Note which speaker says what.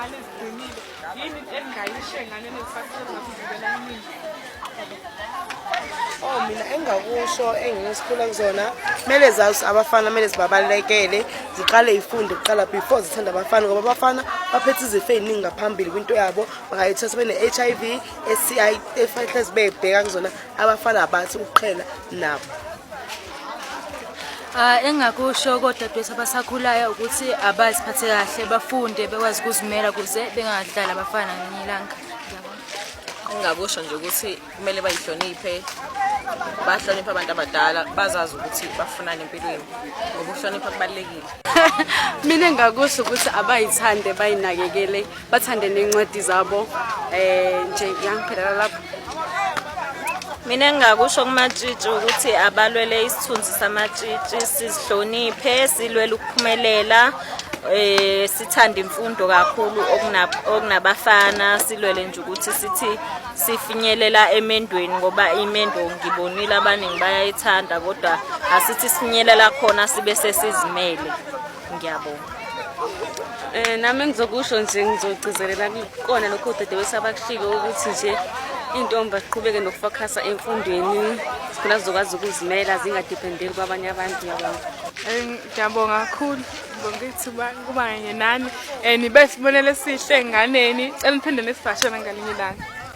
Speaker 1: ngane ziqinile yini engingayisho engane
Speaker 2: nezisakuzokuvikela imini Oh mina engakusho engingisikhula kuzona kumele zazi abafana kumele zibabalekele ziqale ifunde kuqala before zithanda abafana ngoba abafana baphethe izifo eziningi ngaphambili kwinto yabo bangayithatha bene-HIV STI efanele zibebheka kuzona abafana abathi ukuqhela nabo
Speaker 3: Ah, engakusho kodadewethu abasakhulayo ukuthi abaziphathe kahle bafunde bekwazi ukuzimela kuze bengadlali abafana ngelinye ilanga engingakusho
Speaker 4: nje ukuthi kumele bayihloniphe bahloniphe abantu abadala bazazi ukuthi bafunani empilweni ngoba ukuhlonipha kubalulekile mina
Speaker 5: engakusho ukuthi abayithande bayinakekele bathande nencwadi zabo um nje yangiphelela lapho
Speaker 6: mina engingakusho kumatshitshi ukuthi abalwele isithunzi samatshitshi sizihloniphe silwele ukuphumelela eh sithanda imfundo kakhulu okunabafana silwele nje ukuthi sithi sifinyelela emendweni ngoba imendo ngibonile abaningi bayayithanda kodwa asithi sifinyelela khona sibe sesizimele ngiyabonga
Speaker 5: um nami engizokusho nje ngizogcizelela kukona lokho udadewethu sabakushilo ukuthi nje intombi aziqhubeke nokufokhasa emfundweni khona zizokwazi ukuzimela zingadephendeli kwabanye abantu yabona eh, ngiyabonga
Speaker 1: kakhulu ngibonga ithuba kuba kanye nani um nibe sibonelo esihle enganeni cela niphinde nisivashele ngalinye ilanga